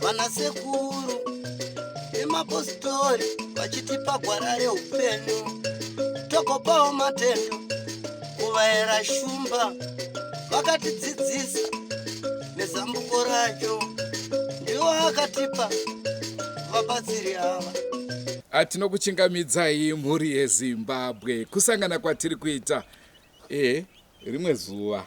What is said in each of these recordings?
vana sekuru vemapostori vachitipa gwara reupenyu tokopawo matendo kuvaera shumba vakatidzidzisa nezambuko racho ndiwo akatipa vabatsiri ava Ah, tinokuchingamidzai mhuri yezimbabwe kusangana kwatiri kuita e rimwe zuva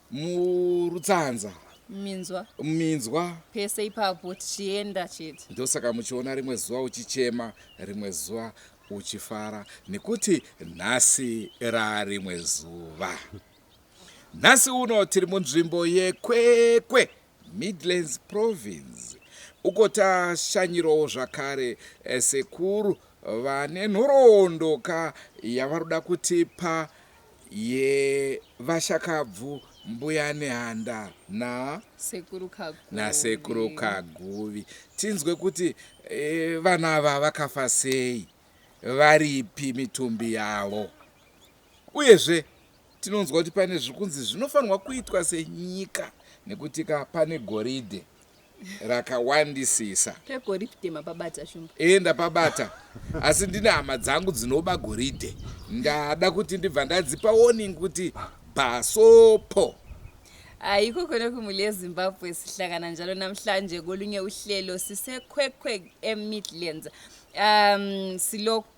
murutsanza minzwa minzwa pese ipapo tichienda chete ndosaka muchiona rimwe zuva uchichema rimwe zuva uchifara nekuti nhasi rarimwe zuva nhasi uno tiri munzvimbo yekwekwe Midlands Province uko tashanyirawo zvakare sekuru vane nhoroondo ka yavaroda kutipa yevashakabvu mbuya Nehanda na Sekuru Kaguvi. nasekuru Kaguvi tinzwe kuti eh, vana ava vakafa sei varipi mitumbi yavo. Uyezve, tinonzwa kuti pane zviri kunzi zvinofanirwa kuitwa senyika nekutika pane goridhe rakawandisisa. Pegoridhe mapabata shumba. Ee, ndapabata. Asi ndine hama dzangu dzinoba goridhe. Ndada kuti ndibva ndadzipa warning kuti bhasopo. Ayikho khona kumuli yeZimbabwe sihlangana njalo namhlanje kolunye uhlelo siseKwekweg eMidlands. Um silokhu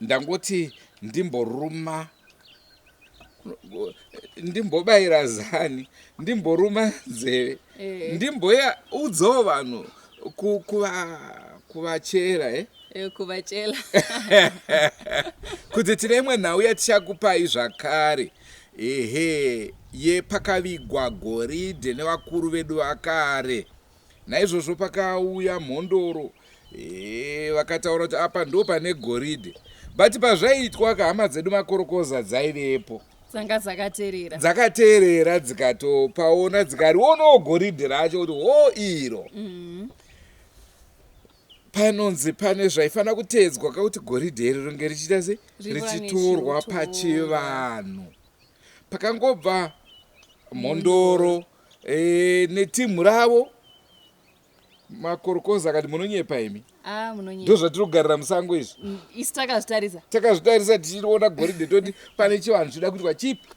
ndangoti ndimboruma ndimbobayira zani ndimboruma nzeve eh. ndimboya udzawo vanhu kuvachera e eh? eh, kuvachela kuti tine imwe nhau yatichakupai zvakare ehe yepakavigwa goridhe nevakuru vedu vakare Naizvozvo pakauya mhondoro eh, vakataura kuti apa ndo pane goridhe but pazvaiitwa ka hama dzedu makorokoza dzaivepo dzanga dzakaterera dzakaterera dzikatopaona dzikarionawo goridhe racho kuti ho iro mm. panonzi pane zvaifanira kuteedzwa kakuti goridhe iri ringe richiita se richitorwa pachivanhu pakangobva mhondoro e, netimhu ravo makorokoza akati munonyepa imi ah, ndo zvatiri kugarira musango izvi mm, isu takazvitarisa takazvitarisa tichiona goridhe toti pane chivanhu chinoda kuitwa chipi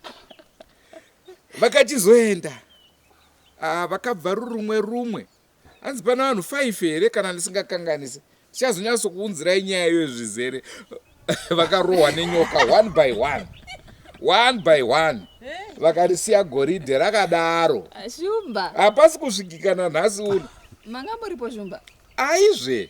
vakachizoenda ah, vakabva rurumwe rumwe Hanzi pana vanhu five here kana ndisingakanganise tichazonyatsokuunzirai nyaya iyoyo zvizere vakarohwa nenyoka one by one one by one vakarisiya goridhe rakadaro shumba hapasi kusvikikana nhasi uno manga muripo shumba aizve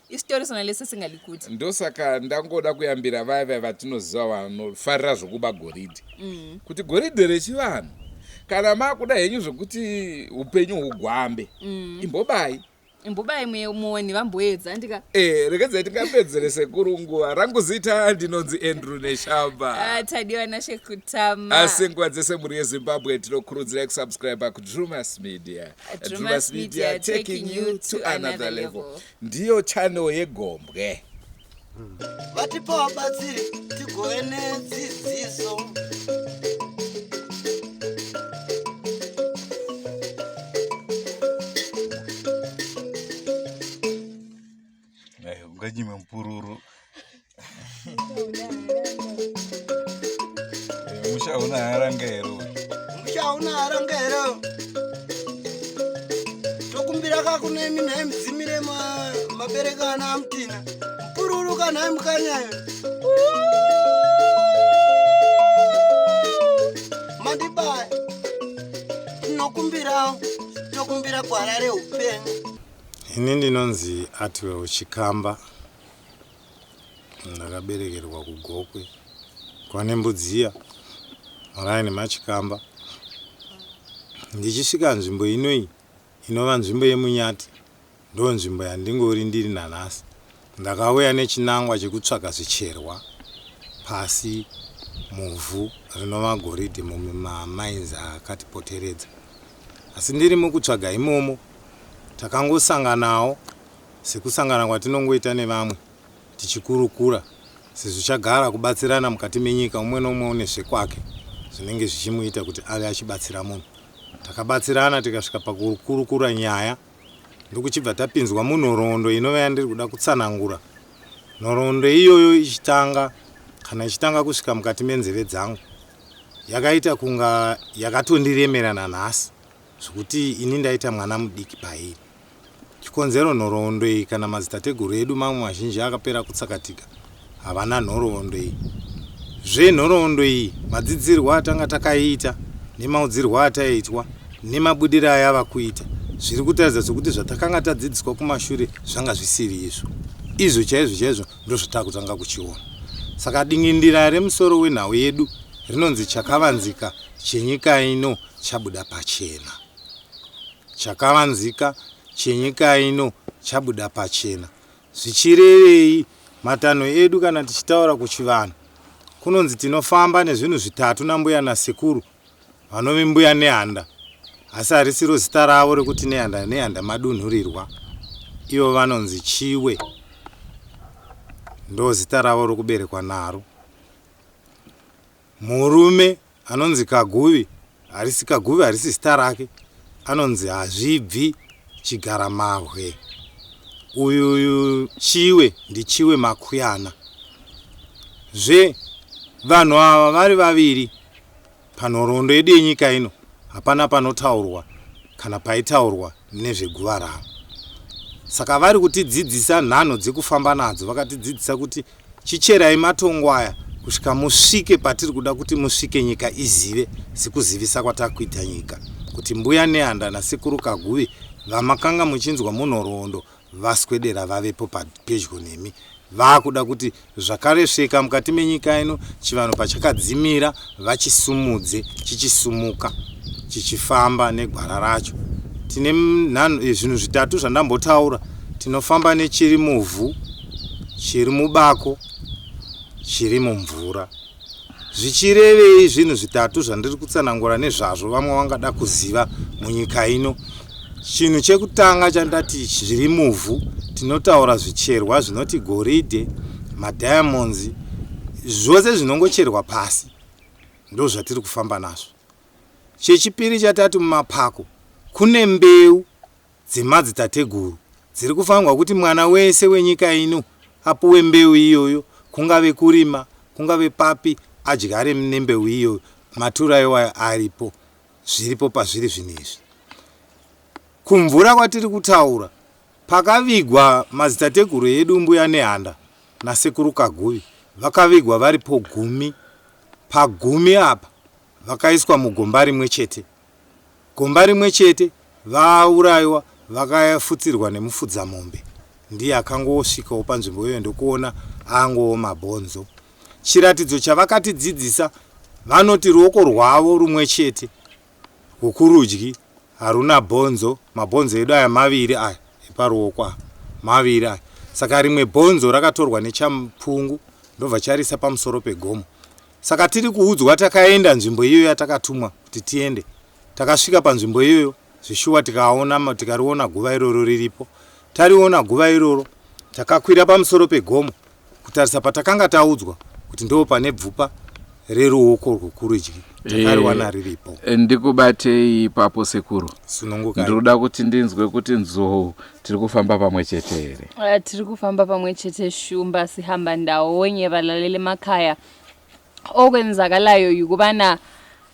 isitori sona lese singadi kuti ndosaka ndangoda kuyambira vaya vaya vatinoziva vanofarira zvokuba goridhe mm. kuti goridhe rechivanhu kana makuda henyu zvekuti upenyu hugwambe mm. imbobai imbobai muoni vamboedza ndika e eh, rekedzai tingapedzere sekuru nguva rangu zita ndinonzi andrew neshamba ah, tadiwa nashe kutama asi nguva dzese mhuri yezimbabwe tinokurudzirai kusubscribe kudrumas media Drewmas Media taking you to another level. Ndiyo channel yegombwe. Vatipa wabatsiri tigove nedzidziso. Eh, unganyime mupururu Eh, musha una haranga here uyu? musha una haranga here tokumbira kakunemi nhai mudzimire ma- mabereka ana amutina mupururu kanhai mukanyayo mandibaya tinokumbirawo tokumbira gwara reupenyu Ini ndinonzi Artwell Chikamba ndakaberekerwa kuGokwe kwane Mbudziya muraini maChikamba. Ndichisvika nzvimbo ino iyi inova nzvimbo yeMunyati ndonzvimbo yandingori ndiri nanhasi Ndakauya nechinangwa chekutsvaga zvicherwa pasi muvhu rinova goridhe mumamines akatipoteredza. Asi ndiri mukutsvaga imomo, takangosanganawo sekusangana kwatinongoita nevamwe tichikurukura sezvo chagara kubatsirana mukati menyika umwe noumwe une zvekwake zvinenge zvichimuita kuti ave achibatsira munhu. Takabatsirana tikasvika pakukurukura nyaya. ndokuchibva tapinzwa munhoroondo inova yandiri kuda kutsanangura nhoroondo iyoyo ichitanga kana ichitanga kusvika mukati menzeve dzangu yakaita kunga yakatondiremera nanhasi zvekuti ini ndaita mwana mudiki pairi chikonzero nhoroondo iyi kana madzitateguru edu mamwe mazhinji akapera kutsakatika havana nhoroondo iyi zve nhoroondo iyi madzidzirwo atanga takaiita nemaudzirwo ataitwa nemabudiro ayava kuita zviri kutaridza sokuti zvatakanga tadzidziswa kumashure zvanga zvisiri izvo izvo chaizvo chaizvo ndozvatakutanga kuchiona saka dingindira remusoro wenhau yedu rinonzi chakavanzika chenyika ino chabuda pachena chakavanzika chenyika ino chabuda pachena Zvichirevei? Matanho edu kana tichitaura kuchivanhu kunonzi tinofamba nezvinhu zvitatu nambuya nasekuru vanove mbuya nehanda asi harisiro zita ravo rekuti nehanda nehanda madunhurirwa ivo vanonzi chiwe ndozita ravo rokuberekwa naro Murume anonzi Kaguvi harisi Kaguvi harisi zita rake anonzi Hazvibvi Chigaramabwe. Uyu Chiwe ndiChiwe Makuyana. Zve vanhu ava vari vaviri panhoroondo yedu yenyika ino hapana panotaurwa kana paitaurwa nezveguva ravo. Saka vari kutidzidzisa nhanho dzekufamba nadzo vakatidzidzisa kuti Chicherai matongo aya kusvika musvike patiri kuda kuti musvike nyika izive sekuzivisa kwatakuita nyika kuti mbuya nehanda nasekuru kaguvi vamakanga muchinzwa munhoroondo vaswedera vavepo pedyo nemi vakuda kuti zvakaresveka mukati menyika ino chivanhu pachakadzimira vachisimudze chichisumuka chichifamba negwara racho tine eh, zvinhu zvitatu zvandambotaura tinofamba nechiri muvhu chiri mubako chiri mumvura zvichirevei zvinhu zvitatu zvandiri kutsanangura nezvazvo vamwe vangada kuziva munyika ino Chinhu chekutanga chandati zviri muvhu tinotaura zvicherwa zvinoti goridhe, madiamonds, zvose zvinongocherwa pasi ndozvatiri kufamba nazvo. Chechipiri chatati mumapako kune mbeu dzemadzitateguru dziri kufanirwa kuti mwana wese wenyika ino apuwe mbeu iyoyo kungave kurima kungave papi adyare nembeu iyoyo matura iwayo aripo zviripo pazviri zvino izvi. Kumvura kwatiri kutaura pakavigwa madzitateguru edu mbuya Nehanda nasekuru Kaguvi vakavigwa varipo gumi pagumi apa vakaiswa mugomba rimwe chete gomba rimwe chete vauraiwa vakafutsirwa nemufudzamombe ndiye akangosvikawo panzvimbo iyoyo ndokuona angowo mabhonzo Chiratidzo chavakatidzidzisa vanoti ruoko rwavo rumwe chete rwokurudyi haruna bhonzo, mabhonzo edu aya maviri aya eparuoko aya maviri aya, saka rimwe bhonzo rakatorwa nechamupungu ndobva charisa pamusoro pegomo. Saka tiri kuudzwa takaenda nzvimbo iyoyo yatakatumwa kuti tiende, takasvika panzvimbo iyoyo. Zveshuwa tikaona, tikariona guva iroro riripo. Tariona guva iroro, takakwira pamusoro pegomo kutarisa patakanga taudzwa kuti ndoo pane bvupa reruoko rwokurudyi. Takariwana eh, riripo. Eh, ndikubatei ipapo sekuru. Sununguka. Ndinoda kuti ndinzwe kuti nzou tiri kufamba pamwe chete here? Eh, tiri kufamba pamwe chete shumba sihamba ndaonye valalele makaya okwenzakalayo yukubana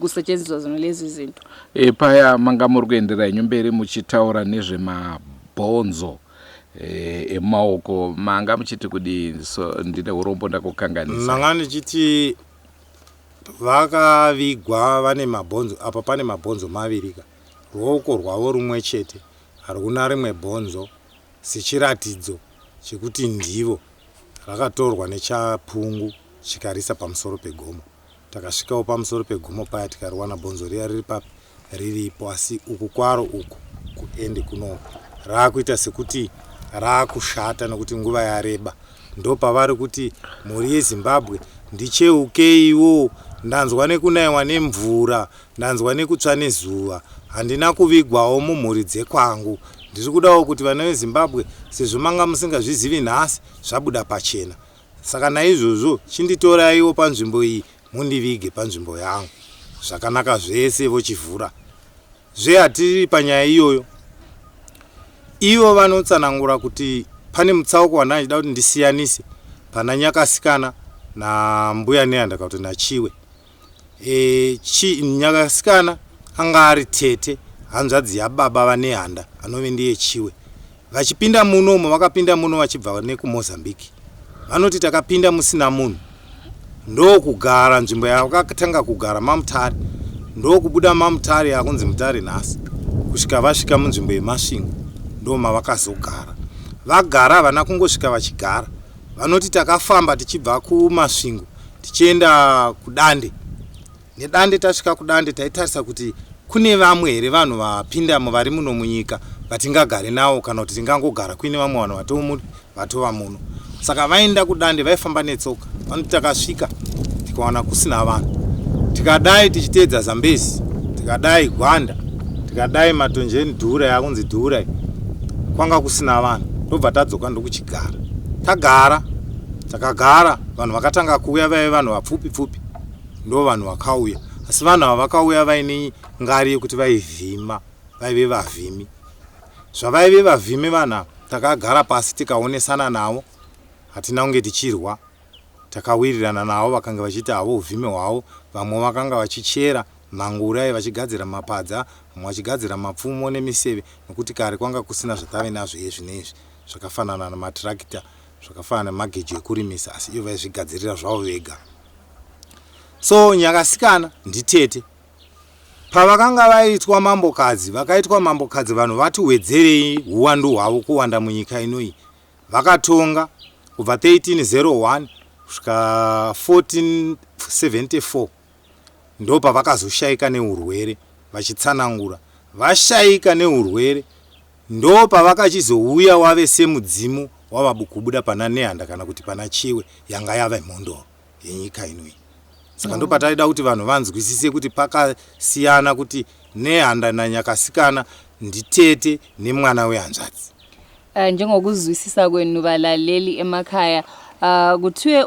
kusetshenziswa zona lezi zinto e, paya manga muri kuenderera henyu mberi muchitaura nezvemabhonzo e, emaoko manga muchiti kudii so ndine urombo ndakukanganisa manga ndichiti vakavigwa vane mabhonzo apa pane mabhonzo mavirika ruoko rwavo rumwe chete haruna rimwe bhonzo sechiratidzo chekuti ndivo rakatorwa nechapungu chikarisa pamusoro pegomo Takasvikawo pamusoro pegomo paya tikariwana bonzo riya riri papi riripo asi uku kwaro uku kuende kuno raakuita sekuti raakushata nekuti nguva yareba ndopavari kuti mhuri yezimbabwe ndicheukeiwo ndanzwa nekunaiwa nemvura ndanzwa nekutsva nezuva handina kuvigwawo mumhuri dzekwangu ndiri kudawo kuti vana vezimbabwe sezvo manga musingazvizivi nhasi zvabuda pachena Saka naizvozvo chinditoraiwo panzvimbo iyi mundivige panzvimbo yangu. Zvakanaka zvese vochivhura. Zve hatiri panyaya iyoyo. Ivo vanotsanangura kuti pane mutsauko wandandida kuti ndisiyanise pana Nyakasikana nambuya Neandaka kuti naChiwe. e, chi, nyakasikana anga ari tete hanzvadzi yababa vanehanda anove ndiye chiwe vachipinda muno umo vakapinda muno vachibva nekumozambique vanoti takapinda musina munhu ndokugara nzvimbo yakatanga kugara mamutare ndokubuda mamutare yakunzi mutare nhasi kusvika vasvika munzvimbo yemasvingo ndomavakazogara vagara havana kungosvika vachigara Vanoti takafamba tichibva kuMasvingo tichienda kuDande. NeDande tasvika kuDande taitarisa kuti kune vamwe here vanhu vapinda muvari muno munyika vatingagare nawo kana kuti tingangogara kuine vamwe vanhu vatomu vatova muno. Saka vaenda kuDande vaifamba netsoka. Vanoti takasvika tikawana kusina vanhu. Tikadai tichiteedza Zambezi, tikadai Gwanda, tikadai Matonjeni Dhura yakunzi Dhura kwanga kusina vanhu. Ndobva tadzoka ndokuchigara. tagara takagara vanhu vakatanga kuuya vaive vanhu vapfupi pfupi ndo vanhu vakauya asi vanhu ava vakauya vaine ngari yekuti vaivhima vaive vavhimi zvavaive vavhimi vanhu ava takagara pasi tikaonesana navo hatina kunge tichirwa takawirirana navo vakanga vachiita havo uvhimi hwavo vamwe vakanga vachichera mangurayi vachigadzira mapadza vamwe vachigadzira mapfumo nemiseve nokuti kare kwanga kusina zvatave nazvo ezvino izvi zvakafanana nematirakita, zvakafanana nemagejo ekurimisa asi ivo vaizvigadzirira zvavo vega. So Nyakasikana nditete. Pavakanga vaitwa mambokadzi, vakaitwa mambokadzi vanhu vati wedzerei huwandu hwavo kuwanda munyika inoyi. Vakatonga kubva 1301 kusvika 1474. ndopavakazoshaika neurwere vachitsanangura vashaika neurwere ndopavakachizouya wave semudzimu wavabukubuda pana nehanda kana kuti pana chiwe yanga yave mhondoro yenyika ino iyi saka mm. ndopataida kuti vanhu vanzwisise kuti pakasiyana kuti nehanda nanyakasikana nditete nemwana wehanzvadzi uh, njengokuzwisisa kwenu valaleli emakhaya uh, kuthiwe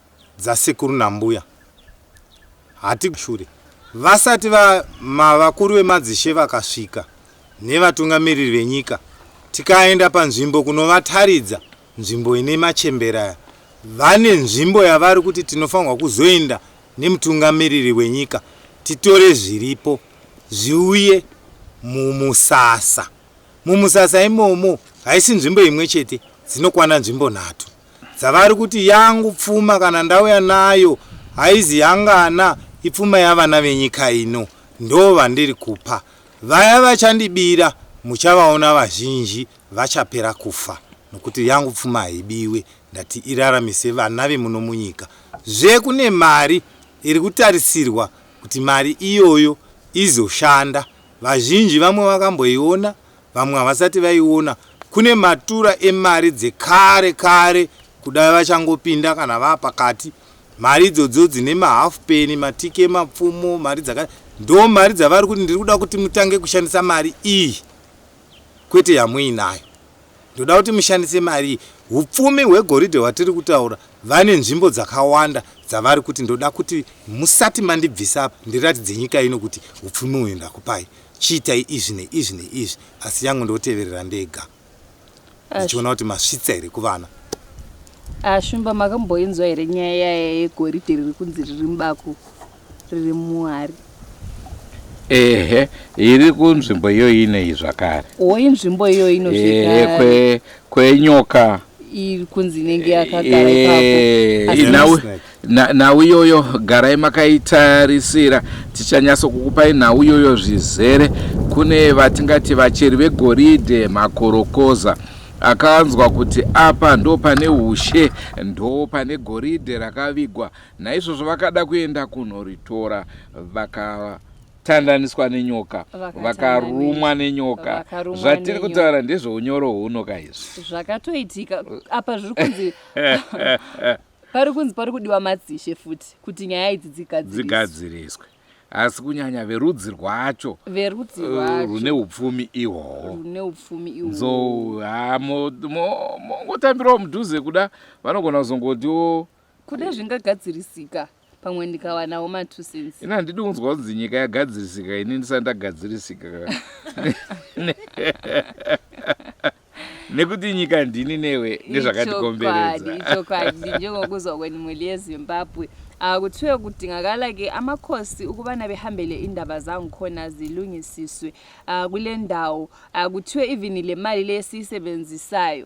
dzasekuru nambuya hatikushure vasati va ma vakuru vemadzishe vakasvika nevatungamiriri venyika tikaenda panzvimbo kunovataridza nzvimbo ine machembera aya vane nzvimbo yavari kuti tinofanirwa kuzoenda nemutungamiriri wenyika titore zviripo zviuye mumusasa mumusasa imomo haisi nzvimbo imwe chete dzinokwana nzvimbo nhatu dzavari kuti yangu pfuma kana ndauya nayo haizi yangana ipfuma yavana venyika ino ndo vandiri kupa vaya vachandibira muchavaona vazhinji vachapera kufa nokuti yangu pfuma haibiwe ndati iraramise vana vemuno munyika zve kune mari iri kutarisirwa kuti mari iyoyo izoshanda vazhinji vamwe vakamboiona Vamwe havasati vaiona kune matura emari dzekare kare kudai vachangopinda kana vaa pakati. Mari idzodzo dzine mahalf penny, matike, mapfumo, mari dzaka ndo mari dzavari kuti ndiri kuda kuti mutange kushandisa mari iyi kwete yamuinayo. Ndoda kuti mushandise mari iyi. Hupfumi hwegoridhe hwatiri kutaura vane nzvimbo dzakawanda dzavari kuti ndoda kuti musati mandibvisa apa ndiratidze nyika ino kuti hupfumi uyu ndakupai. Chiitai izvi neizvi neizvi asi yangu ndoteverera ndega ndichiona kuti masvitsa here kuvana. Ashumba makamboinzwa here nyaya yaya yegoridhe riri kunzi riri mubako riri muhari? Ehe, iri kunzvimbo iyoyi inei zvakare. O, inzvimbo iyoyi inozvigara. Kwe, kwenyoka. Iri kunzi inenge yakagara ipapo. Asi Nhau iyoyo garai makaitarisira, tichanyatsokukupai nhau iyoyo zvizere. Kune vatingati vacheri vegoridhe, makorokoza akanzwa kuti apa ndo pane ushe, ndo pane goridhe rakavigwa. Naizvozvo vakada kuenda kunoritora, vakatandaniswa nenyoka, vakarumwa nenyoka. Zvatiri kutaura ndezveunyoro huno ka izvi zvakatoitika apa zviri kunzi pari kunzi pari kudiwa madzishe futi kuti nyaya idzi dzigadziriswe asi kunyanya verudzi rwacho verudzi eh, rwacho rune upfumi ihwohwo rune upfumi ihwo nzo ha mongotambirawo mudhuze kuda vanogona kuzongotiwo kuda zvingagadzirisika pamwe ndikawanawo ma two cents ini handidi kunzwa kunzi nyika yagadzirisika ini ndisati ndagadzirisika nekuti nyika ndini newe nezvakatikomberedza ichokwadi njengokuzwa kweni mweli yezimbabwe ah, kuthiwe kudingakala ke amakhosi ukubana behambele indaba zangikhona zilungisiswe ah, kule ndawo ah, kuthiwe even le mali le esiyisebenzisayo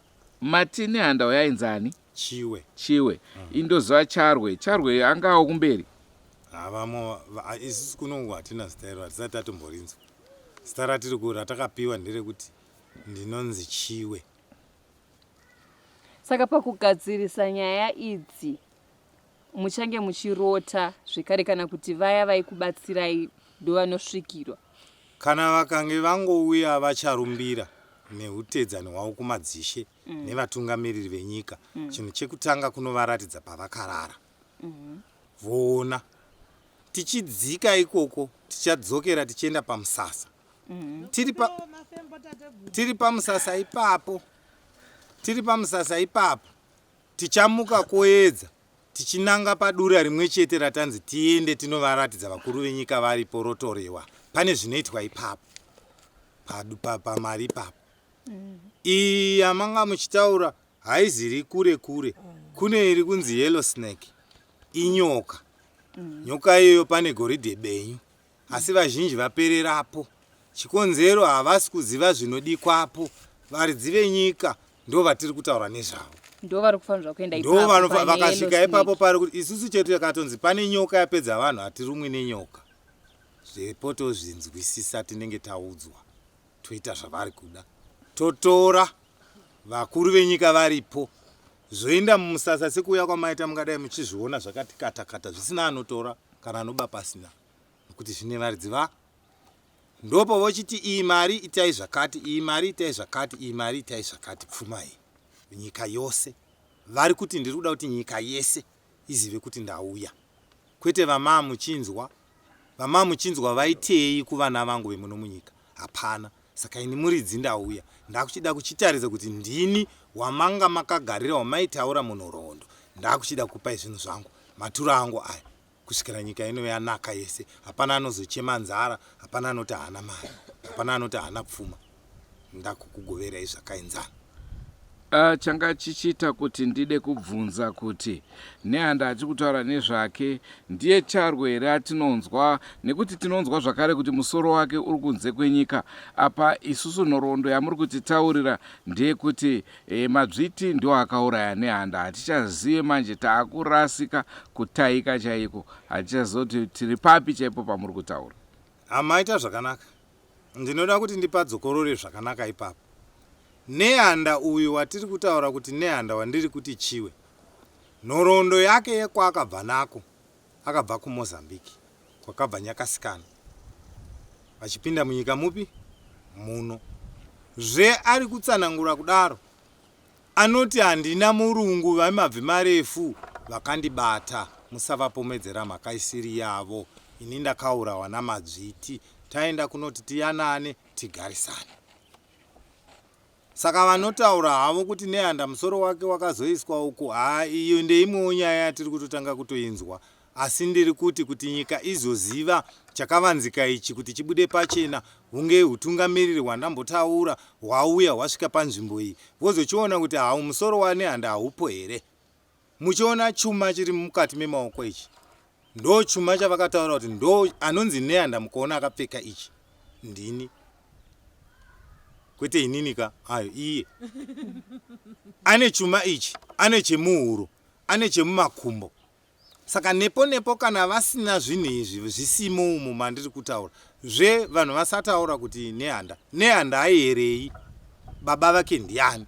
Matine handa uyo ainzi ani? Chiwe. Chiwe. Mm. Indoziva Charwe. Charwe anga awo kumberi. Havamo ah, isusu kunongo hatina zita iro hatisati tatomborinzwa. Zita ratiri ku ratakapiwa nderekuti ndinonzi Chiwe. Saka pakugadzirisa nyaya idzi muchange muchirota zvekare kana kuti vaya vaikubatsirai ndovanosvikirwa kana vakange vangouya vacharumbira neutedzani hwavo kumadzishe mm. nevatungamiriri venyika mm. chinhu chekutanga kunovaratidza pavakarara mm-hmm. voona mm -hmm. tichidzika ikoko tichadzokera tichienda pamusasa mm -hmm. tiri pamusasa ipapo tiri pamusasa ipapo Tichamuka koedza tichinanga padura rimwe chete ratanzi tiende tinovaratidza vakuru venyika varipo rotorewa. Pane zvinoitwa ipapo padu pamari ipapo. Mm. Iyi yamanga muchitaura haiziri kure kure. Kune iri kunzi yellow snake inyoka. Mm. Nyoka iyoyo pane goridhe benyu asi vazhinji vapererapo. Chikonzero havasi kuziva zvinodikwapo. Varidzi venyika ndo vatiri kutaura nezvavo. Ndo vari kufanirwa kuenda ipapo. Ndo vanofa vakasvika ipapo pari kuti isusu chetu yakatonzi pane nyoka yapedza vanhu hatirumwi nenyoka. Zvepo tozvinzwisisa tinenge taudzwa toita zvavari kuda. Totora vakuru venyika varipo Zvoinda mumusasa sekuuya kwamaita mungadai muchizviona zvakati kata kata zvisina anotora kana anoba pasina nokuti zvine varidzi va ndopo vochiti iyi mari itai zvakati iyi mari itai zvakati iyi mari itai zvakati pfuma iyi nyika yose vari kuti ndiri kuda kuti nyika yese izive kuti ndauya kwete vamaa muchinzwa vamaa muchinzwa vaitei kuvana vangu vemuno munyika hapana Saka ini muridzi ndauya ndakuchida kuchitaridza kuti ndini wamanga makagarira wamaitaura munhoroondo. Ndakuchida kukupai zvinhu zvangu, maturo angu aya. Kusvikira nyika ino yanaka yese, hapana anozochema nzara, hapana anoti haana mari, hapana anoti haana pfuma. Ndakukugoverai zvakaenzana. Ah, changa chichiita kuti ndide kubvunza kuti Nehanda achi kutaura nezvake ndiye Charwe here atinonzwa nekuti tinonzwa zvakare kuti musoro wake uri kunze kwenyika apa isusu nhoroondo yamuri kutitaurira ndeyekuti e, Madzviti ndiwo akauraya Nehanda hatichazive manje taakurasika kutaika chaiko hatichazive kuti tiri papi chaipo pamuri kutaura Hama ita zvakanaka Ndinoda kuti ndipadzokorore zvakanaka ipapo. Nehanda uyu watiri kutaura kuti Nehanda wandiri kuti Chiwe, nhoroondo yake yekwaakabva nako, akabva kuMozambique, kwakabva Nyakasikana. Vachipinda munyika mupi? Muno. Zve ari kutsanangura kudaro. Anoti, Handina murungu vemabvi marefu vakandibata, musavapomedzera mhaka isiri yavo. Ini ndakaurawa naMadzviti taenda kunoti tiyanane tigarisane. Saka vanotaura havo kuti Nehanda musoro wake wakazoiswa uku, haa iyo ndeimwewo nyaya yatiri kutotanga kutoinzwa Asi ndiri kuti kuti nyika izoziva chakavanzika ichi kuti chibude pachena hunge hutungamiriri hwandambotaura hwauya hwasvika panzvimbo iyi vozochiona kuti hau musoro wanehanda haupo here. Muchiona chuma chiri mukati memaoko ichi ndo chuma chavakataura kuti ndo anonzi nehanda mukaona akapfeka ichi ndini kwete inini ka ayo iye ane chuma ichi ane chemuhuro ane chemumakumbo Saka nepo nepo kana vasina zvinhu izvi zvisimo umo mandiri kutaura zve vanhu vasataura kuti Nehanda Nehanda aierei baba vake ndiani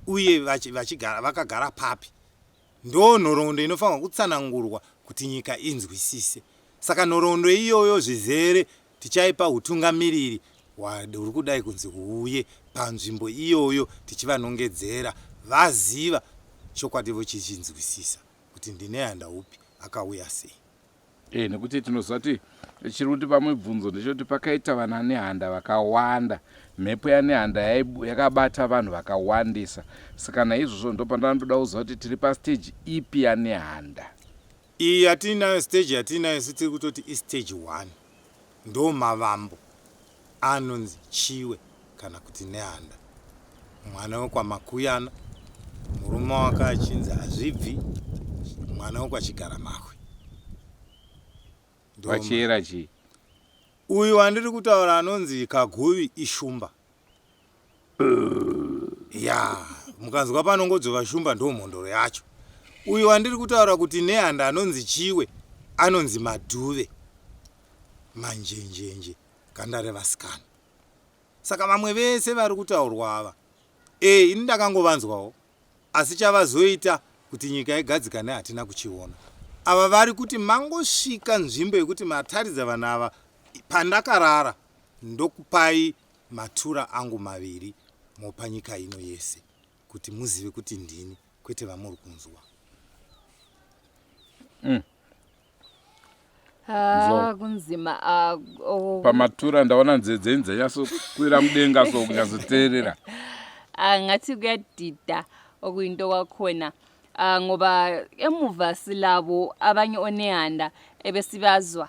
uye vachigara vakagara papi ndoo nhoroondo inofanirwa kutsanangurwa kuti nyika inzwisise saka nhoroondo iyoyo zvizere tichaipa utungamiriri huri kudai kunzi huuye panzvimbo iyoyo tichivanongedzera vaziva chokwadi vochichinzwisisa kuti ndine handaupi akauya sei. Eh, nekuti tinoziva kuti chiri kutipa mibvunzo ndechekuti pakaita vana nehanda vakawanda mhepo yanehanda yakabata vanhu vakawandisa saka naizvozvo ndopandanotoda kuziva kuti tiri pastage ipi yanehanda iyi yatiinayo stage yatiinayo sitiri kutoti istage one ndomavambo anonzi Chiwe kana kuti Nehanda. Mwana wekwaMakuyana, murume wake achinzi Hazvibvi, mwana wekwaChigaramahwe. Ndoma. Vachiyera chii? Uyu wandiri kutaura anonzi Kaguvi Ishumba. ya mukanzwa panongodzvova shumba ndo mhondoro yacho uyu wandiri kutaura kuti nehanda anonzi chiwe anonzi madhuve manjenjenje ganda revasikana saka vamwe vese vari kutaurwa ava e ini ndakangovanzwawo asi chavazoita kuti nyika igadzikane hatina kuchiona ava vari kuti mangosvika nzvimbo yekuti mataridza vanhu ava pandakarara ndokupai matura angu maviri mopa nyika ino yese kuti muzive kuti ndini kwete vamuri kunzwa mm. Ah, kunzima ah, oh. pamatura ndaona nzee dzenyu dzanyatsokwira mudenga so kunyatsoteerera ah, ngathi kuyadida okuyinto kwakhona ngoba emuva silabo abanye onehanda ebesibazwa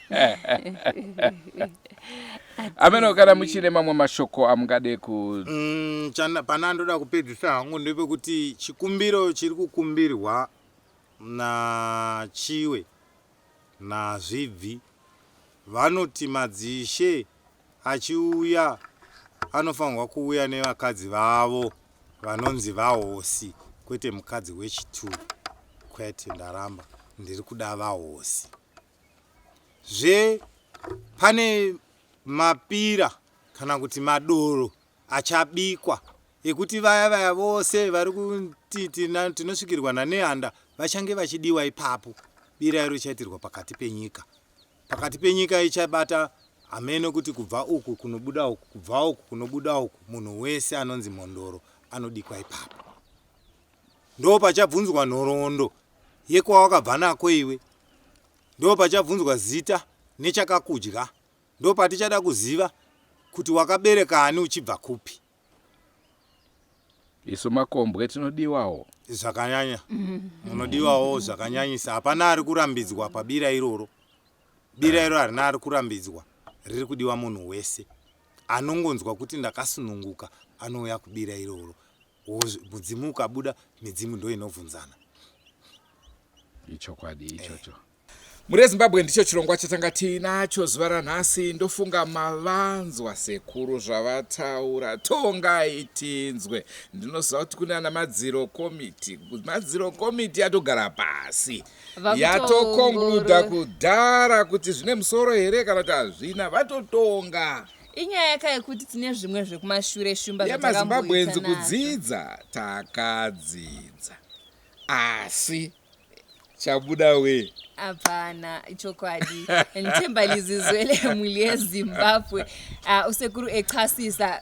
ameno kana muchine mamwe mashoko amungade ku mm, pane andoda kupedzisa hangu ndepekuti chikumbiro chiri kukumbirwa nachiwe nazvibvi vanoti madzishe achiuya anofanirwa kuuya nevakadzi vavo vanonzi vahosi kwete mukadzi wechituru kwete ndaramba ndiri kuda vahosi zve pane mapira kana kuti madoro achabikwa ekuti vaya vaya vose vari kuti tinosvikirwa nanehanda vachange vachidiwa ipapo bira iro chaitirwa pakati penyika pakati penyika ichabata hameno kuti kubva uku kunobuda uku kubva uku kunobuda uku munhu wese anonzi mhondoro anodikwa ipapo ndo pachabvunzwa nhoroondo yekwawakabva nako iwe ndo pachabvunzwa zita nechakakudya ndo patichada kuziva kuti wakabereka ani uchibva kupi isu makombwe tinodiwawo zvakanyanya munodiwawo zvakanyanyisa hapana ari kurambidzwa pabira iroro bira iro harina ari kurambidzwa riri kudiwa munhu wese anongonzwa kuti ndakasununguka anouya kubira iroro mudzimu ukabuda midzimu ndo inobvunzana ichokwadi ichocho eh. mhuri yezimbabwe ndicho chirongwa chatanga tiinacho zuva ranhasi ndofunga mavanzwa sekuru zvavataura tongai tinzwe ndinoziva kuti kune ana madziro komiti madziro komiti yatogara pasi yatokonkluda kudhara kuti zvine musoro here kana kuti hazvina vatotonga inyaya yaka yekuti tine zvimwe zvekumashure shumba yemazimbabwenzi kudzidza takadzidza asi chabuda we hapana ichokwadi nditemba lizizwe lemuli yezimbabwe uh, usekuru echasisa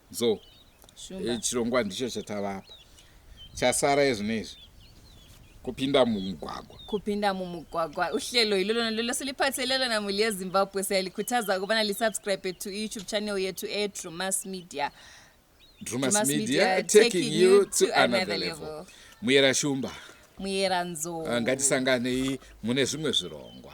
so e, chirongwa ndicho chatava apa chasara ezvino izvi kupinda mumugwagwa kupinda mumugwagwa uhlelo ilolo nalolo siliphathelelo namuli yezimbabwe siyalikhuthaza ukubana lisubscribe to iyoutube channel yethu edrumas media drumas, drumas media, media taking you to another level, level. muyera shumba muyera nzoo ah, ngatisanganei mune zvimwe zvirongwa